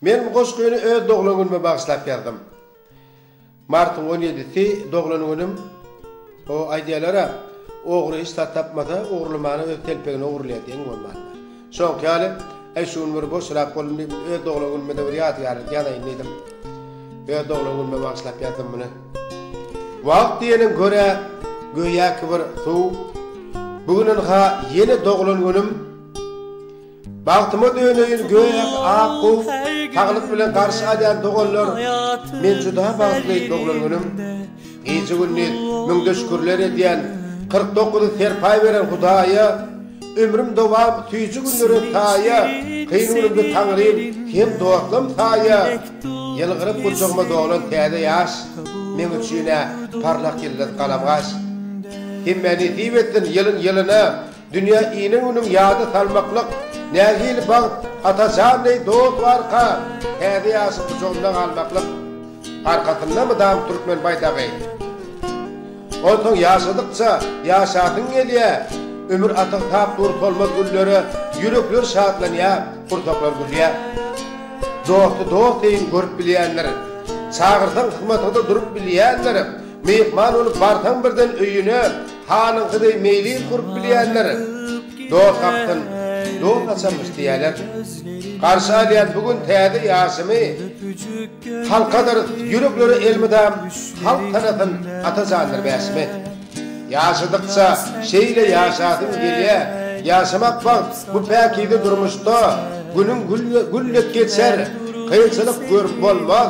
Men bu goşgyny öz doglan günüme bagyşlap ýazdym. Martyň on ýedisi doglan günüm. O, aýdýarlar-a, Ogry hiç zat tapmasa, ogurlamana öz telpegini ogurlaýar diýen bolmandyr. Şoňky ýaly, Äý, şu gün bir boşrak boldum diýip, öz doglan günüme-de bir ýadygärlik ýazaýyn diýdim. Öz doglan günüme bagyşlap ýazdym muny. Wagt diýeniň kör-ä, göýäki bir suw. Bu günem-ha ýene doglan günüm. Bagtyma döneýin gök, ak, gow, saglyk bilen garşy alýan doganlar, men juda bagtly doglan günüm, gije-gündiz müňde şükürler edýän, kyrk dokuzy serpaý beren Hudaýa, ömrüm dowam süýji günlere saýa, kyn günümde Taňrym hem dostlam saýa, ýylgyryp gujagyma dolan täze ýaş, meň üçin-ä parlak ýyldyz galamgaş. Hemmä nesip etsin ýylyn ýylyna, Dünýä ine günüň ýada salmaklyk nähili bagt Atajan deý dost we arka Täze ýaşyň gujagynda galmaklyk Arkasynda mydam türkmen baýdagy Onsoň ýaşadykça ýaşasyň gelýä Ömür atygy sap dur solmaz güllere Ýürekler şatlanýa gursaklar gülýä Dosty dost deýin görüp bilýändir Çagyrsaň hyzmatyňda durup bilýändir Myhman bolup barsaň birden öýüne Hanyň gyzy meýlis gurup bilýänler dost gapysyn dost açarmyş diýýärler. Garşy alýan bu gün täze ýaşymy Halkadyr ýüreklere elmydam Halk tanasyn Atajandyr bäşimi. Ýaşadykça şeýle ýaşasym gelýä Ýaşamak bagt bu päkize durmuşda Günüň gül dek geçer kynçylyk görüp bolmaz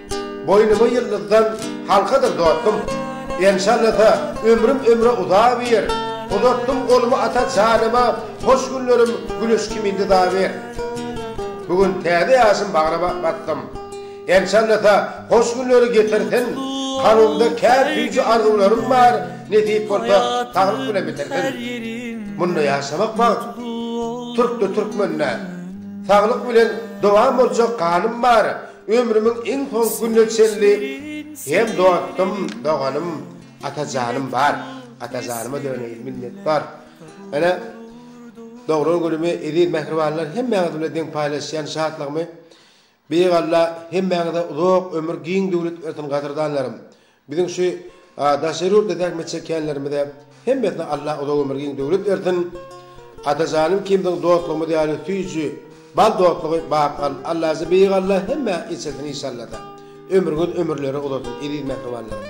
Boýnuma ýyldyzdan halkadyr dostum, Enşallasa ömrüm ömre uzaber, Uzatdym golumy ata janyma, Hoş günlerim güneş kimin dyzaber. Bu gün täze ýaşym bagra basdym, Enşallasa hoş günleri getirsin, Kalbymda kän süýji arzuwlarym bar, Nesip bolsa saglyk bilen bitirsin. Munda ýaşamak bagt, türkde-türkmende, Saglyk bilen dowam boljak ganym bar, Ömrümiň iň soňky gününe çenli hem dostum, doganym Atajanym bar. Atajanyma döneýin, minnetdar. Ene, doglan günümi eziz mähribanlar hemmäňiz bilen deň paýlaşýan şatlygymy Beýik Alla hemmäňize uzak ömür, giň döwlet bersin gadyrdanlarym. Biziň şu daşary ýurtda zähmet çekýänlerimize hemmesine Allah uzak ömür giň döwlet bersin. Atajanym ikimiziň dostlugymyz ýaly süýji bal dostlugy bak al Allajy beýik Allah hemmä içirsin işallada. Ömrüňiz ömürleri uzasyn eziz mähribanlarym.